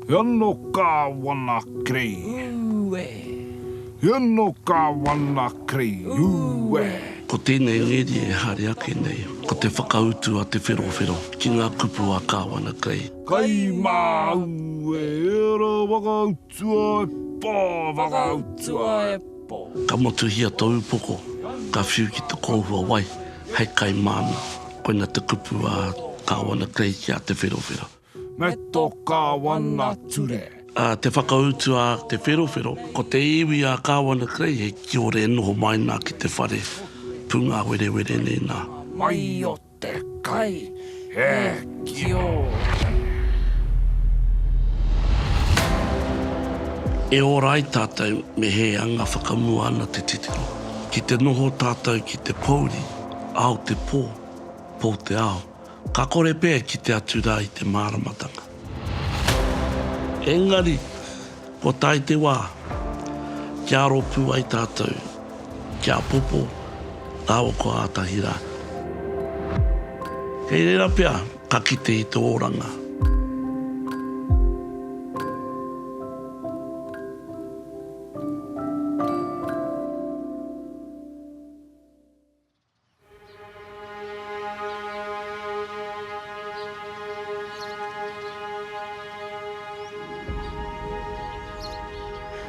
He ono Kāwana Krei. Ū e! He ono Kāwana Krei. Ū e! Ko tēnei ngeri e haere ake nei, ko te whakautu a Te Wherowhero ki ngā kupu a Kāwana Krei. Kai māu e ērā whakautu. Tua e po, whakautua e po. Ka motuhia to upoko, ka whiu ki te kōhua wai, hei kai māna, koina te kupu a Kāwana Clay ki a Te Wherowhero. Me to Kāwana ture. A te whakautu a Te Wherowhero, ko te iwi a Kāwana Clay he kiore e noho mai nā ki te whare pungāwerewere nei nā. Mai o Te kai e kiore. E ora ai tātou me he anga whakamua ana te titiro. Ki te noho tātou ki te pōuri, ao te pō, pō te ao. Ka kore pea e kite atu rā i te māramatanga. Engari, kua tae te wā, kia aro pū ai tātou, kia apopo rāua ko Ātahi rā. Kei reira pea ka kite i te oranga.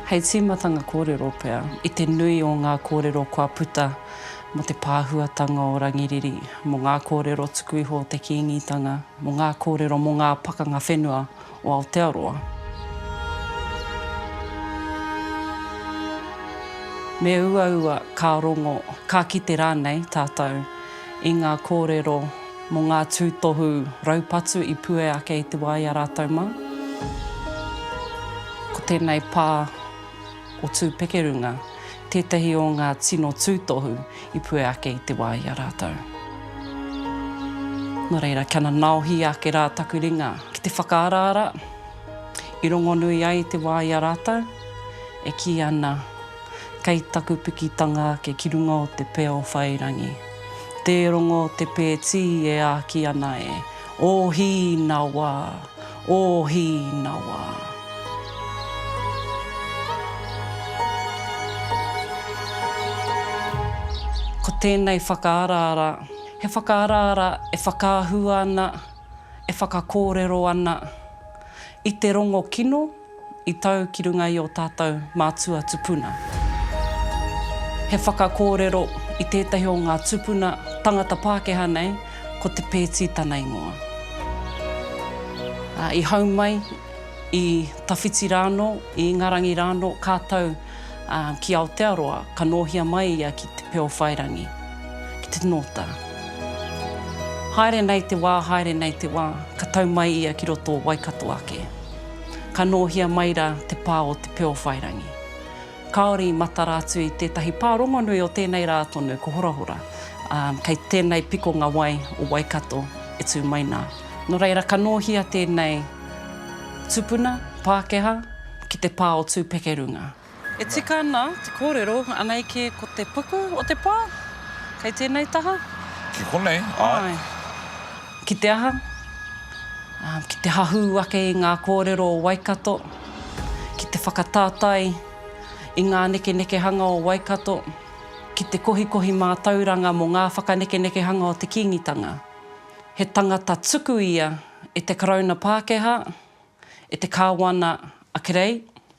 Hei tīmatanga kōrero pea, i te nui o ngā kōrero kua puta mō te pāhuatanga o Rangiriri, mō ngā kōrero tuku iho o te Kīngitanga, mō ngā kōrero mō ngā pakanga whenua o Aotearoa. Me uaua ka rongo, ka kite rānei tātou i ngā kōrero mō ngā tūtohu raupatu i pue ake i te wā i a rātou mā. Ko tēnei pā. o Tūpekerunga, tētahi o ngā tino tūtohu i puea ake i te wā i a rātou. Nō reira, kia nanaohia ake rā taku ringa ki te whakaaraara i rongonui ai i te wā i a rātou, e kī ana, Kei taku pikitanga ake ki runga o te pia o Whairangi, tē rongo te pētī e āki ana e, ōhī nā wā! Ōhīnawa. Ko tēnei whakaaraara, he whakaaraara e whakaahua ana, e whakakōrero ana i te rongo kino, I tau ki runga i ō tātou mātua tupuna. He whakakōrero i tētahi o ngā tupuna tangata Pākehā nei, ko Te Pēti tana ingoa. Ā, i hau mai i tawhiti rānō, i Ingarangi rānō, ka tau, ā, ki Aotearoa, ka nōhia mai ia ki Te Peowhairangi, ki te Nōta. Haere nei te wā, haere nei te wā, ka tau mai ia ki roto o Waikato ake. Ka nōhia mai rā te pā o Te Peowhairangi. Kāore i matara atu i tētahi pā rongonui o tēnei rā tonu ko Horahora, ā, kei tēnei pikonga wai o Waikato e tū mai nā. Nō reira ka nōhia tēnei tupuna Pākehā ki te pā o Tūpekerunga. E tika ana te kōrero, anei kē ko te puku o te pā? Kei tēnei taha? Ki konei, āe. Ki te aha? Ki te hahū ake i ngā kōrero o Waikato, ki te whakatātai i ngā nekenekehanga o Waikato, ki te kohikohi mātauranga mō ngā whakanekenekehanga o te Kīngitanga. He tangata tuku ia e te Karauna Pākehā, e te Kāwana a Kerei,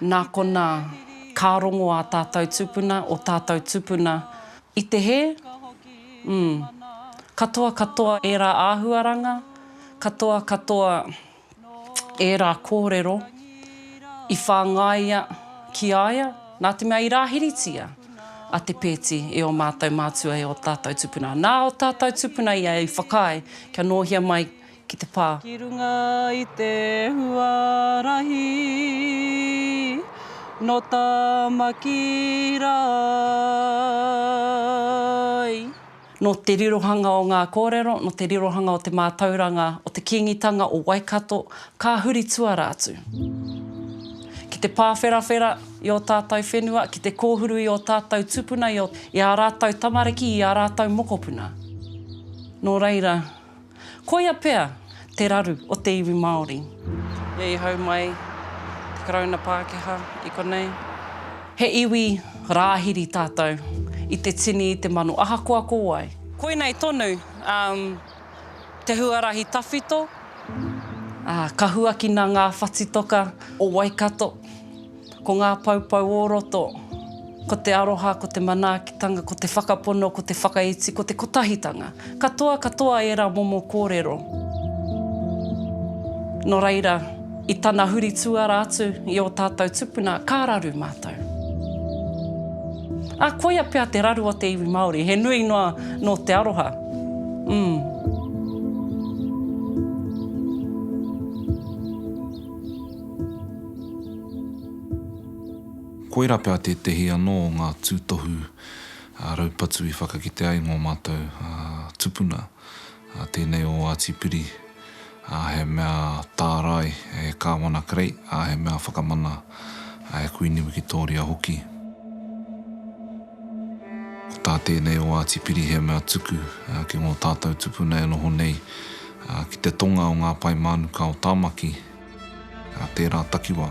Nā konā, ka rongo ā tātou tupuna, ō tātou tupuna i te hē? Umm. Katoa katoa ērā āhuaranga, katoa katoa ērā kōrero i whāngaia ki a ia, nā te mea i rāhiritia a Te Peeti e ō mātou mātua e ō tātou tupuna. Nā ō tātou tupuna ia i whakaae kia nōhia mai ki te pā. Ki runga i te huarahi nō Tāmaki Rae. Nō te rirohanga o ngā kōrero, nō te rirohanga o te mātauranga o te Kīngitanga o Waikato, ka huri tuara atu ki te pāwherawhera i ō tātou whenua, ki te kōhuru i ō tātou tūpuna, i ā rātou tamariki, i ā rātou mokopuna. Nō reira, Koia pea te raru o te iwi Māori. Ia i hau mai te Karauna Pākehā i konei. He iwi Rāhiri tātou i te tini i te mano ahakoa ko wai. Koinei tonu te huarahi tawhito. Ka huakina ngā whatitoka o Waikato. Ko ngā poupou o roto, ko te aroha, ko te manaakitanga, ko te whakapono, ko te whakaiti, ko te kotahitanga. Katoa katoa ērā momo kōrero. Nō reira, i tana huri tuara atu i ō tātou tupuna, ka raru mātou. Ā, koia pea te raru o te iwi Māori, he nui noa nō te aroha. Umm. Koirā pea tētehi anō o ngā tūtohu raupatu i whakakite ai ngō mātou tupuna, tēnei o Ātipiri, he mea tārai e Kāwana Kerei, he mea whakamana e Kuini Wikitōria hoki. Ko tā tēnei o Ātipiri he mea tuku ki ngō tātou tupuna e noho nei ki te tonga o ngā pae mānuka o Tāmaki, Nā tērā takiwā.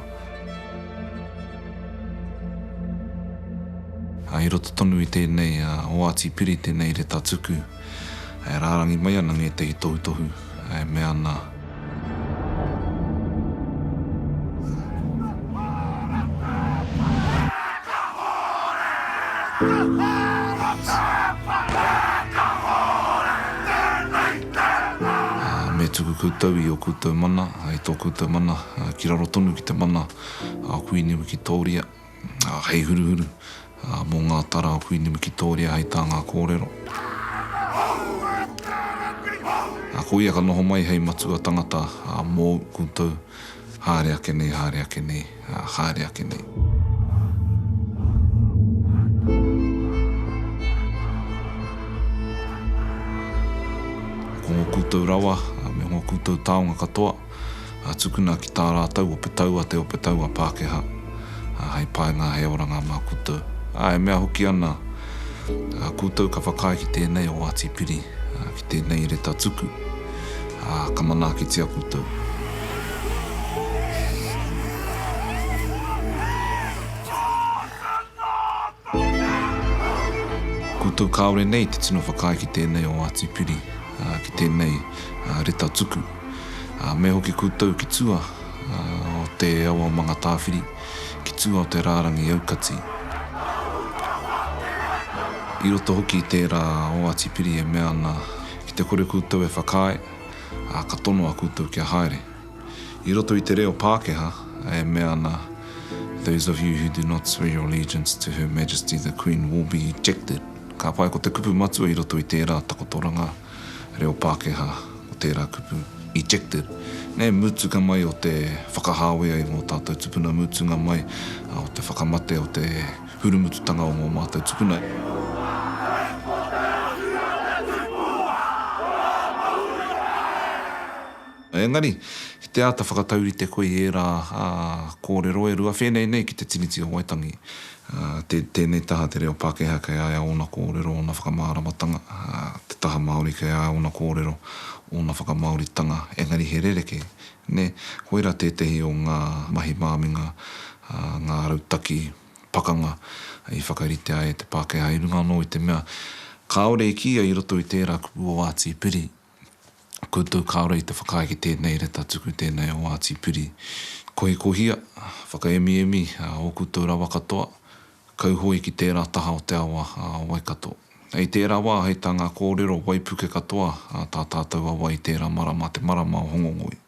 I roto tonu i tēnei oati piri tēnei reta tuku e rārangi mai ana ngētehi tohutohu e mea ana. Me tuku koutou i o koutou mana, i tō koutou mana, ki raro tonu ki te mana a Kuini Wikitōria, hei huruhuru mō ngā tara a Kuini Wikitōria hei tā ngā kōrero. Ko ia ka noho mai hei matua tangata mōu koutou. Haere ake nei, haere ake nei, ā, haere ake nei. Ko ngō koutou rawa me ngō koutou taonga katoa, ā, tukuna ki tā rātou ope taua te ope taua Pākehā, ā, hei painga, hei oranga mā koutou. Ā, e mea hoki ana, ā, koutou ka whakaae ki tēnei o Āti Piri, ā, Tēnei reta tuku, ā, ka manaakitia koutou. Koutou kāore nei te tino whakaae ki tēnei o Ngāti Piri, ā, ki tēnei, ā, reta tuku. Ā, me hoki koutou ki tua, ā, o te Awa o Mangatāwhiri. ki tua o te rārangi aukati. I roto hoki i tērā oati piri e mea ana ki te kore koutou e whakaae, ā, ka tonoa koutou kia haere. I roto i te reo Pākehā e mea ana Those of you who do not swear your allegiance to Her Majesty the Queen will be ejected. Ka pai ko te kupu matua i roto i tērā takotoranga. reo Pākehā o tērā kupu, ejected, nei mutunga mai o te whakahāwea i ngō tātou tupuna, mutunga mai o te whakamate o te hurumututanga o ngō mātou tupuna. Engari, ki te āta whakataurite koe i ērā kōrero e rua whēnei nei ki te Tiriti o Waitangi, tēnei taha te reo Pākehā kei a ia ōna kōrero, ōna whakamāramatanga, te taha Māori kei a ia ōna kōrero, ōna whakamāoritanga, engari he rerekē, nē, koirā tētehi o ngā mahi māminga, ngā rautaki pakanga i whakarite ai e te Pākehā i runga anō i te mea kāore i kīia i roto i tērā kupu o Āti Piri, Koutou kāore i te whakaae ki tēnei reta tuku tēnei o Ngāti Piri. Kohikohia, whakaemiemi ō koutou rawa katoa, kauhoe ki tērā taha o te awa a Waikato. Hei tērā wā, hei tā ngā kōrero waipuke katoa tā tātou awa i tērā marama te marama o Hongongoi.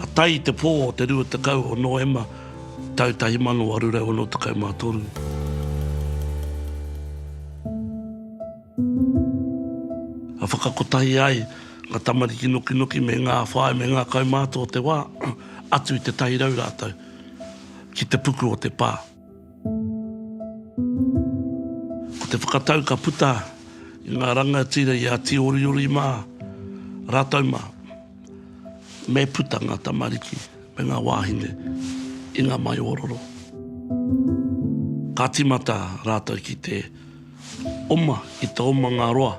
Ka tae i te pō o te 20 o Noema tau 1863, ka whakakotahi ai ngā tamariki nokinoki me ngā whāi me ngā kaumātua o te wā, atu i te 100 rātou, ki te puku o te pā. Ko te whakatau ka puta i ngā rangatira i a Tīoriori mā rātou mā, me puta ngā tamariki me ngā wāhine i ngā maioororo. Ka tīmata rātou ki te. Oma ki te omanga roa.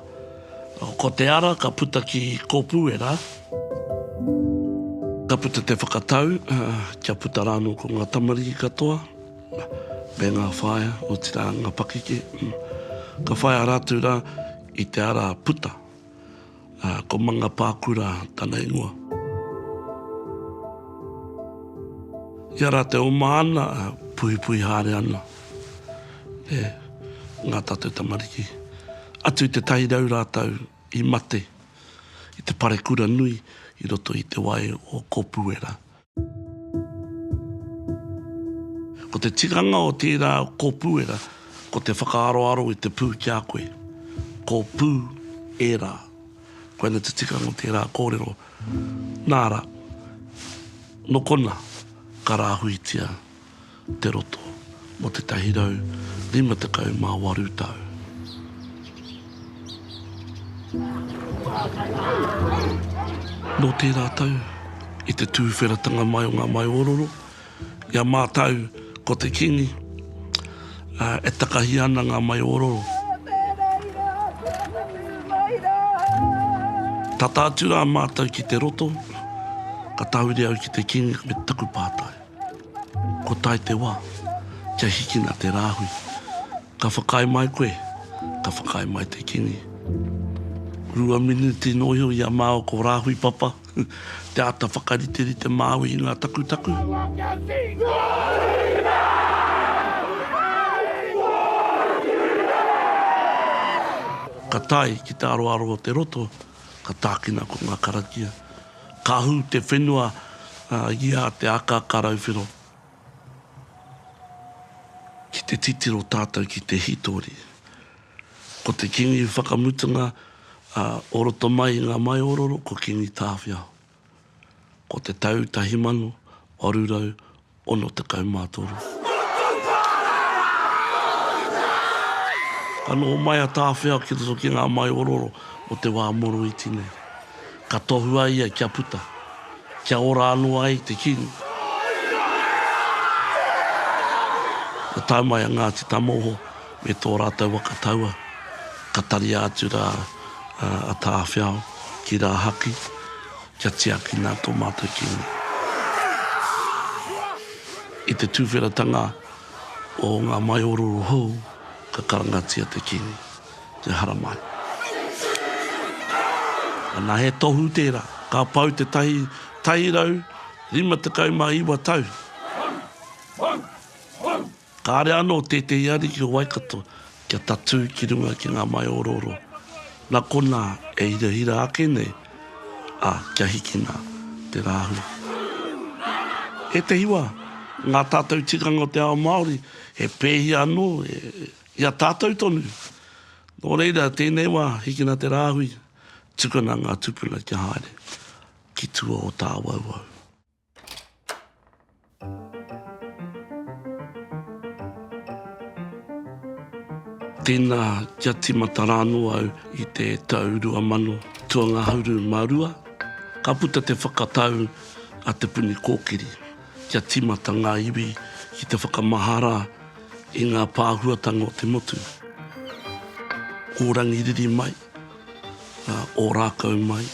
Ko te ara ka puta ki Kōpūera. Ka puta te whakatau kia puta rā anō ko ngā tamariki katoa me ngā whaea, otirā ngā pakeke. Ka whaia rātou rā i te ara puta. Ā, ko Mangapākura tana ingoa. Ia rā te oma ana, puhipuhi haere ana e ngā tātou tamariki. Atu i te tahi rau rātou i mate i te parekura nui i roto i te wai o Kōpuera. Ko te tikanga o tērā kōpūera ko te whakaaroaro i te pū ki a koe. Ko pū ērā. Koinei te tikanga o tērā kōrero. Nā rā, nō konā ka rāhuitia. te roto mō 158 tau. Nō tērā tau, i te tūwheratanga mai o ngā mahi ororo, i a mātau ko te Kīngi, ā, e takahia ana ngā mahi ororo. Tata atu rā mātau ki te roto, ka tahuri au ki te Kīngi me taku pātai. Kua tae te wā, kia hikina te rāhui. Ka whakaae mai koe, ka whakaae mai te kīngi. Rua miniti nō iho i a māua ko Rāhui Papa te āta whakariterite māu i ngā takutaku. He wā kia tītokohia! Ka tae ki te aroaro o te roto, ka tākina ko ngā karakia. Ka hū te whenua i a Te Akaakarauwhero ki te titiro tātou ki te hītori. Ko te Kīngi whakamutunga o roto mai i ngā Maiōroro ko Kīngi Tāwhiao. Ko te tau tahi mano, waru rau, 63. Ka noho mai a Tāwhiao ki roto ki ngā maiororo o te wā moroiti nei. Ka tohua ia kia puta, kia ora anō ai te Kīngi. Ka tae mai a Ngāti Tamoho me tō rātou waka taua, ka taria atu rā a Tāwhiao ki Rāhaki. Kia tiakina tō mātou Kīngi. I te tuwheratanga o ngā maiororo hou, ka karangatia te Kīngi, te haramai. Ana he tohu tērā, ka pau te tahi tairau rima tekau mā iwa tau. Kāre anō tētehi ariki o Waikato kia tatū ki runga ki ngā maiōrōro, nā konā e hirahira ake nei, ā, kia hikina te rāhui. Ētehi wā, ngā tātou tikanga o te ao Māori he pēhia anō i a tātou tonu. Nō reira, tēnei wā, hikina te rāhui, tukuna ngā tupuna kia haere ki tua o tāwauwau. Tēnā kia tīmata rānō au i te tau rua mano tua ngahuru mā rua, ka puta te whakatau a Te Puni Kōkiri kia tīmata ngā iwi ki te whakamahara i ngā pāhuatanga o te motu. Kō Rangiriri mai, a Ōrākau mai,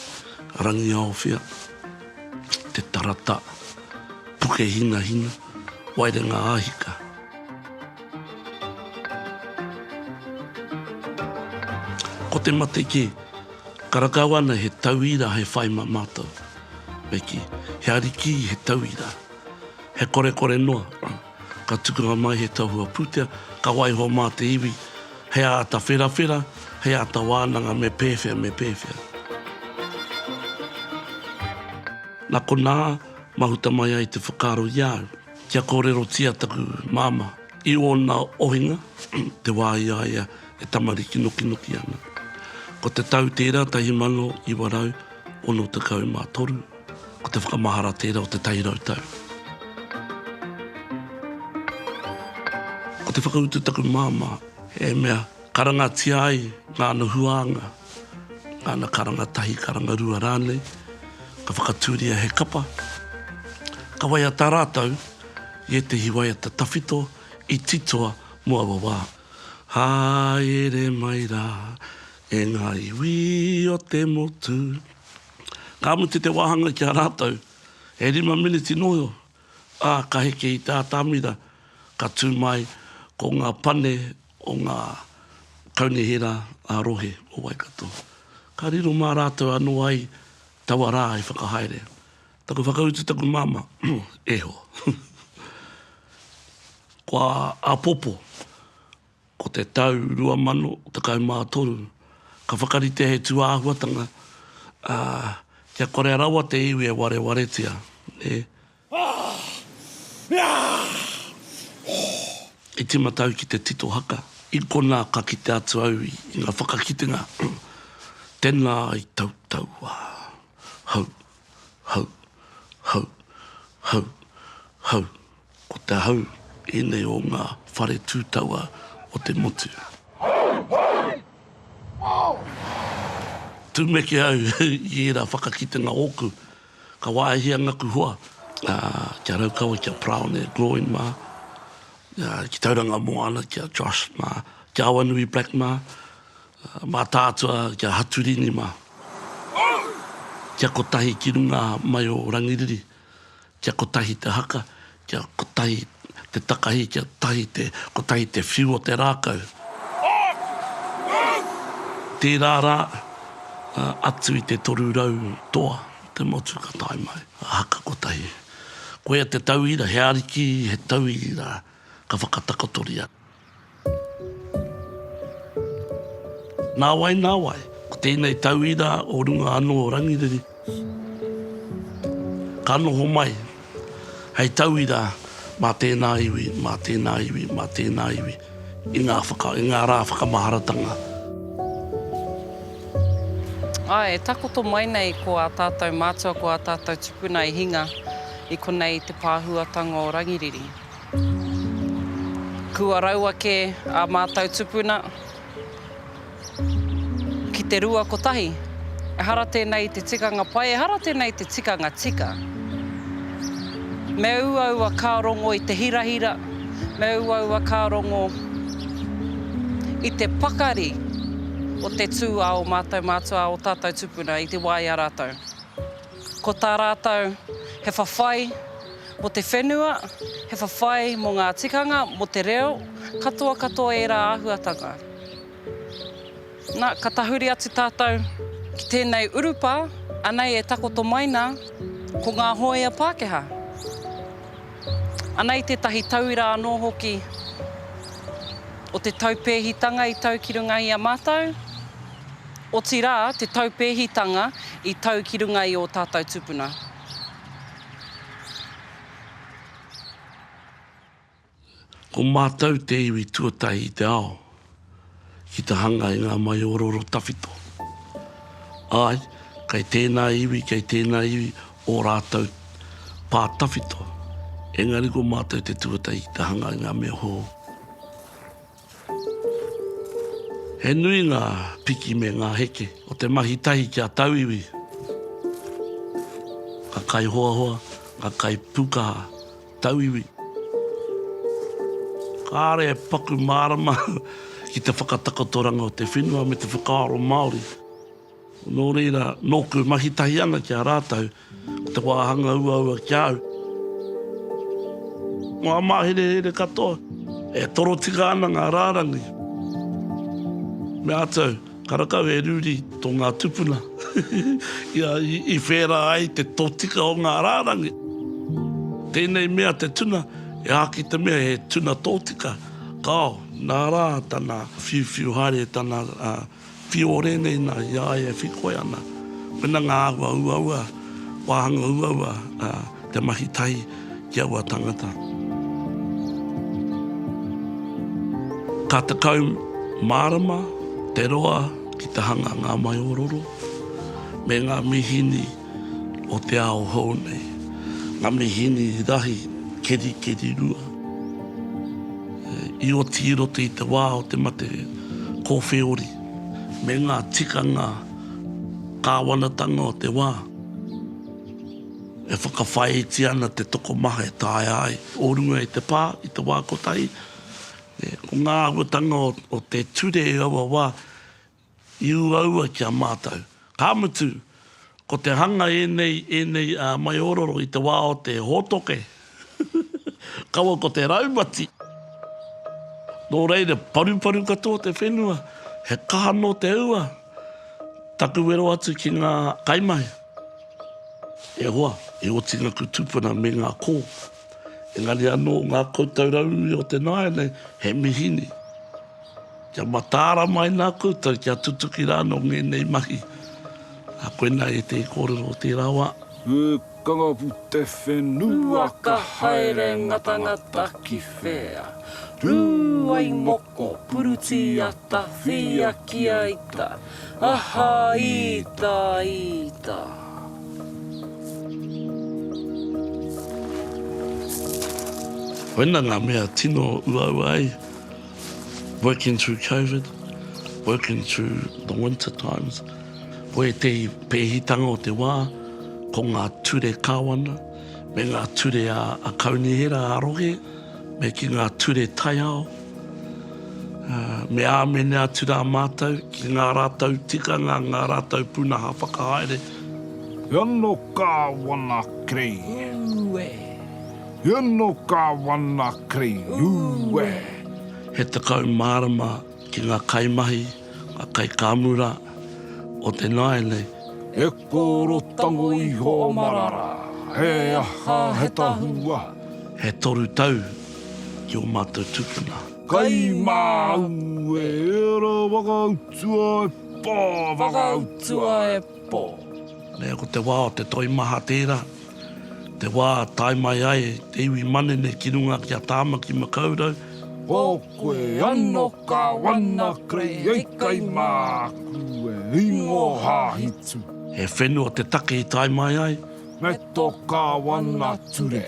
Rangiaowhia, Te Tarata, Pukehinahina, Waerenga a Hika. Ko te mate kē, ka rakau ana he tauira hei whai mā mātou. Me kī, he arikī, he tauira, he korekore noa. Ka tukanga mai he tahua pūtea, ka waiho mā te iwi, hei āta wherawhera, hei āta wānanga me pēwhea, me pēwhea. Nā konā, mahuta mai ai te whakaaro i a au, kia kōrerotia taku māmā i ōna ohinga, te wā i a ia e tamariki nokinoki ana. Ko te tau tērā 1963. Ko te whakamahara tērā o te tai rau tau. Ko te whakautu taku māmā, he mea karangatia ai ngāna huānga, ngāna karanga tahi, karanga rua rānei, ka whakatūria he kapa, ka waiata rātou i ētehi waiata tawhito i titoa mō aua wā. Haere mai rā e ngā iwi o te motu. Ka mutu te wāhanga ki a rātou, he rima miniti noio, ā, ka heke i te atamira, ka tū mai ko ngā pane o ngā kaunihera ā-rohe o Waikato. Ka riro mā rātou anō ai taua rā i whakahaere. Taku whakautu taku māmā, eho. Kua āpopo. Ko te tau 2013, ka whakaritea he tūāhuatanga, ā, kia korea rawa te iwi e warewaretia, nē. I tīmata au ki te tito haka, i konā ka kite atu au i ngā whakakitenga, Tēnā i tautaua. Hau. Hau. Hau. Hau. Hau. Ko te hau ēnei o ngā whare tūtaua o te motu. Tumeke au i ērā whakakitenga ōku, ka wāhia ngaku hoa ki a Raukawa, ki a Paraone Gloyne mā, ki Tauranga Moana, ki a Josh mā, ki a Awanui Black mā, mā tātua ki a Haturini mā. Kia kotahi ki runga mai o Rangiriri, Kia kotahi te haka, kia kotahi te takahi, kia tahi te, kotahi te whiu o te rākau. Tērā rā, atu i te toru rau toa o te motu ka tae mai a haka kotahi. Koia te tauira, he ariki, he tauira ka whakatakotoria. Nāwai, nāwai, ko tēnei tauira o runga anō o Rangiriri, ka noho mai hei tauira mā tēnā iwi, mā tēnā iwi, mā tēnā iwi i ngā whaka, i ngā rā whakamaharatanga. Āe, e takoto mai nei ko ā tātou mātua, ko ā tātou tupuna i hinga i konei te pāhuatanga o Rangiriri. Kua raua kē ā mātou tupuna ki te rua kotahi. Ehara tēnei te tikanga pai, ehara tēnei te tikanga tika. Me uaua ka rongo i te hirahira, me uaua ka rongo i te pakari o te tū a o mātou mātua, a o tātou tupuna i te wā i a rātou. Ko tā rātou, he whawhai mō te whenua, he whawhai mō ngā tikanga, mō te reo, katoa katoa ērā āhuatanga. Nā, ka tahuri atu tātou ki tēnei urupā, anei e takoto mai nā, ko ngā hōia Pākehā. Anei tētahi tauira anō hoki o te taupēhitanga i tau ki runga i a mātou. Otirā, te taupēhitanga i tau ki runga i ō tātou tupuna. Ko mātou te iwi tuatahi i te ao ki te hanga i ngā maiōrōro tawhito. Āe, kei tēnā iwi, kei tēnā iwi ō rātou pā tawhito, engari ko mātou te tuatahi ki te hanga i ngā mea hou. He nui ngā piki me ngā heke o te mahi tahi ki a tauiwi. Ka kaihoahoa, ka kaipūkaha tauiwi. Kāre e paku mārama ki te whakatakotoranga o te whenua me te whakaaro Māori. Nō reira, nōku mahi tahi ana ki a rātou, Ko te wāhanga uaua ki a au. Ngā māherehere katoa. E torotika ana ngā rārangi. Meātou, karakau e ruri tō ngā tupuna ia i whērā ai te totika o ngā rārangi. Tēnei mea te tuna, e aha ki te mea he tuna tōtika? Kāo, nā rā tana whiuwhiu haere, tana. Whio rēnei nā, i a ia e whikoe ana. Koina ngā āhua uaua, wāhanga uaua, ā, te mahi tahi ki aua tangata. Ka tekau mārama te roa ki te hanga ngā maiōroro me ngā mīhini. o te ao hou nei, nga mihini rahi kerikeri rua i oti i roto i te wā o te mate kōwheori, me ngā tikanga kāwanatanga o te wā, e whakawhāiti ana te tokomaha e taea ai. O runga i te pā, i te wā kotahi, ko ngā āhuatanga o te ture i aua wā, I uaua ki a mātou. Ka mutu, ko te hanga ēnei, ēnei maiororo i te wā o te hōtoke, kaua ko te raumati. Nō reira, paruparu katoa te whenua, he kaha nō te ua. Taku wero atu ki ngā kaimahi, e hoa, e otingaku tupuna me ngā kō. Engari anō ngā koutou rauemi o te nāianei, he mihini. Kia mataara mai nā koutou, kia tutuki rānō ngēnei mahi. Ā, koinā e te kōrero o tērā wā. He kangapū te whenua ka haere ngatangata ki whea. Rū ai mō Ko Purutiata Whiakiaita aha ita ita. Koina ngā mea tino uaua ai, working through COVID, working through the winter times, ko ētehi pēhitanga o te wā, ko ngā ture kāwana, me ngā ture a Kaunihera a rohe, me ki ngā ture taiao, ā, me āmene atu rā mātou ki ngā rātou tikanga, ngā rātou pūnaha whakahaere. He ono Kāwana Kerei. Ūe. He ono Kāwana Kerei. Ūe. He tekau mārama ki ngā kaimahi, ngā kaikāmura o te nāianei. He kōro tango iho marara, he aha, he tahua. He toru tau ki ō mātou tūpuna. Kai māu e ērā whakautua e pō, whakautua e pō. Nē, ko te wā o te toimaha tērā. Te wā tae mai ai te iwi manene ki runga ki a Tāmaki Makaurau. Ko koe ano Kawana Kreieikai māku e ingo hāhitu. He whenua te take i tae mai ai. Me to Kawana ture,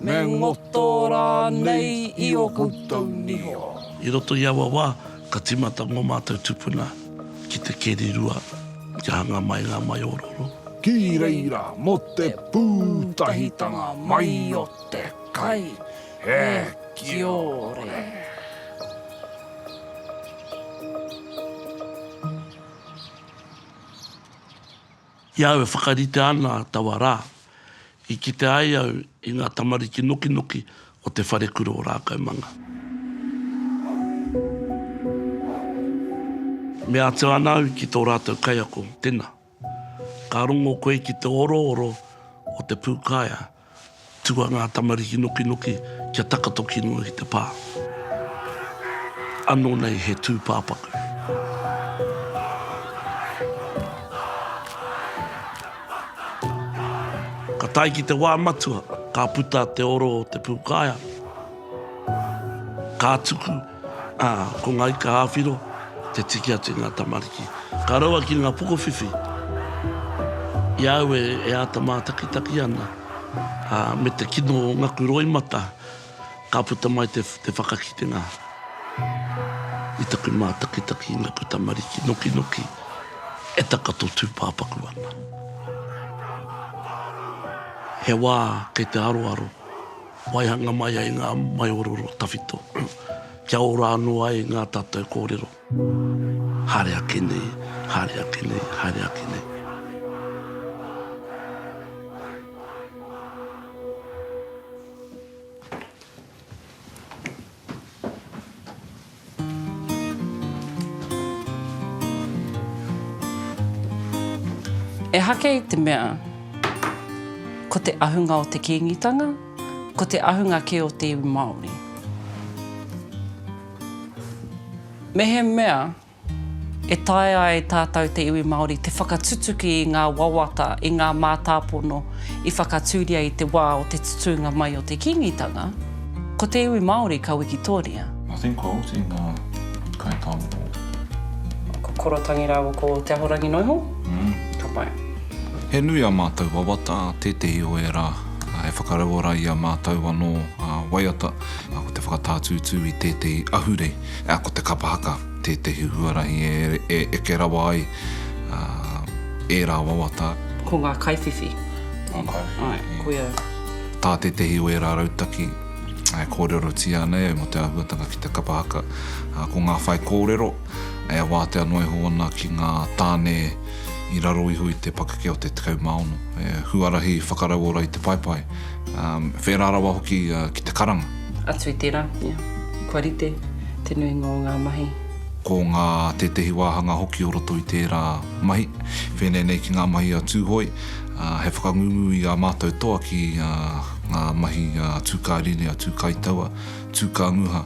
me ngoto rānei i o koutou niho. I roto i aua wā, Ka timata ngō mātou tupuna ki te keri rua kia hanga mai ngā maiōrōrō. Ki reira mō te pūtahitanga mai o te kai. He kiore! I a au e whakaritea ana taua rā, i kite ai au i ngā tamariki nokinoki o te wharekura o Rākaumanga. Mea atu ana au ki tō rātou kaiako, Tena, ka rongo koe ki te orooro o te pūkaea. Tua ngā tamariki nokinoki kia takatoki noa ki te pā. Anō nei he tūpāpaku. Ka tae ki te wā matua, ka puta te oro o te pūkāea, ka tuku, Ā, ko ngā ika ā-whiro te tiki atu i ngā tamariki. Ka raua ki ngā pokowhiwhi i a au e āta mātakitaki ana, ā, me te kino o ngaku roimata ka puta mai te whakakitenga i taku mātakitaki i ngaku tamariki nokinoki e takoto tūpāpaku ana. He wā kei te aroaro. Waihanga mai ai ngā maiororo tawhito, kia ora anō ai ngā tātou kōrero. Haere ake nei, haere ake nei, haere ake nei. Ehake i te mea, ko te ahunga o te Kīngitanga, ko te ahunga kē o te iwi Māori. Mehemea e taea e tātou te iwi Māori te whakatutuki i ngā wawata, i ngā mātāpono i whakatūria i te wā o te tutūnga mai o te Kīngitanga, ko te iwi Māori ka wikitoria. I think ko Oti nga kai tawoko. Ko Korotangi rawa ko Te Ahorangi noho? Mm. Ka pai. He nui a matou wawata, tetehi o era e whakarauora i a matou ano waiata, ko te whakatātūtū i tētehi ahurei, ko te kapa haka tētehi huarahi e eke rawa ai era wawata. Ko nga kaiwhiwhi. Nga kaiwhiwhi. Ae, koia. Ta tetehi o era rautaki. e kōrerotia ana ia mō te āhuatanga ki te kapa haka, ā, ko ngā whaikōrero e wātea noa iho ana ki ngā tāne i raro iho i te pakeke o te 16, he huarahi whakarauora i te paepae, ā, whērā rawa hoki ki te karanga. Atu i tērā, ia, kua rite te nuinga o ngā mahi. Ko ngā tētehi wāhanga hoki o roto i tērā mahi, pēnei nei ki ngā mahi a Tūhoe, ā, he whakangungu i ā mātou toa ki. ngā mahi tūkāriri, tūkaitaua, tūkāmuha,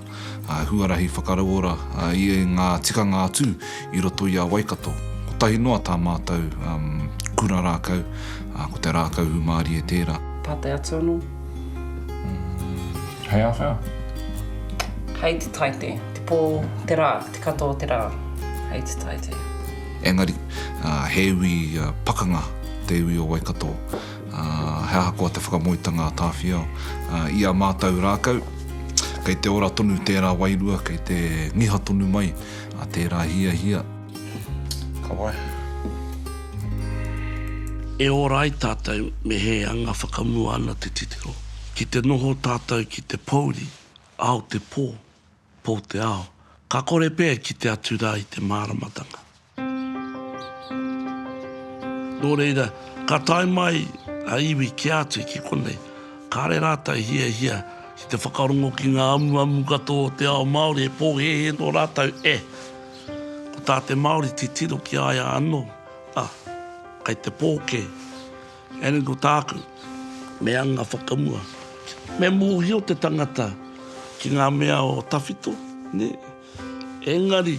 huarahi whakarauora i ngā tikanga atu i roto i a Waikato. Kotahi noa tā mātou kura rākau, ko te rākau hūmārie tērā. Pātai atu anō. Hei a whea? Hei te taite, te pō, te rā, te katoa o te rā, hei te taite. Engari, he iwi pakanga te iwi o Waikato. He ahakoa te whakamoetanga a Tāwhiao i a mātou rākau, kei te ora tonu tērā wairua, kei te ngiha tonu mai tērā hiahia. Ka waiho. E ora ai tātou me he anga whakamua ana te titiro. Ki te noho tātou ki te pōuri, ao te pō, pō te ao. Ka kore pea e kite atu rā i te māramatanga. Nō reira, ka tae mai a iwi kē atu ki konei, kāre rātou i hiahia ki te whakarongo ki ngā amuamu katoa o te ao Māori e pōhēhē nō rātou e. Ko tā te Māori titiro ki a ia anō, a, kei te pō kē. Engari ko tāku, me anga whakamua, me mōhio te tangata ki ngā mea o tawhito, nē. Engari.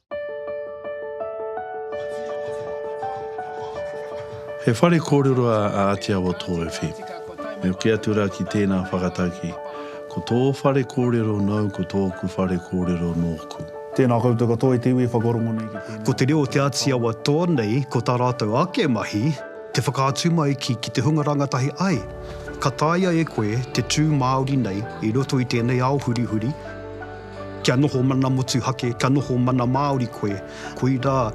He whare kōrero a Āti Awa Tōwhiwhi. Me hoki atu rā ki tēnā whakataki, ko tō whare kōrero nāu ko tōku whare kōrero nōku. Tēnā koutou katoa i te iwi e whakarongo nei ki tēnei. Ko te reo o te Āti Awa tō nei, ko tā rātou ake mahi, te whakaatu mai ki ki te hunga rangatahi ai, ka taea e koe te tū Māori nei i roto i tēnei ao hurihuri, Kia noho mana motuhake, kia noho mana Māori koe. Koirā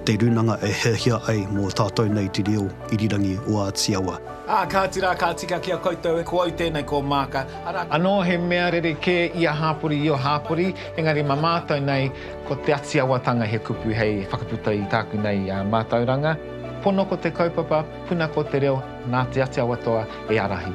te runanga e hiahia ai mō tātou nei te reo irirangi o Āti Awa. Ā, kāti rā, ka tika ki a koutou e, ko au tēnei, ko Maaka, arā. Anō he mea rerekē ia hāpori, io hāpori, engari mā mātou nei, ko te Ati Awatanga he kupu hei whakaputa i tāku nei mātauranga, Pono ko te kaupapa, puna ko te reo, nā te Ati Awatoa e ārahi.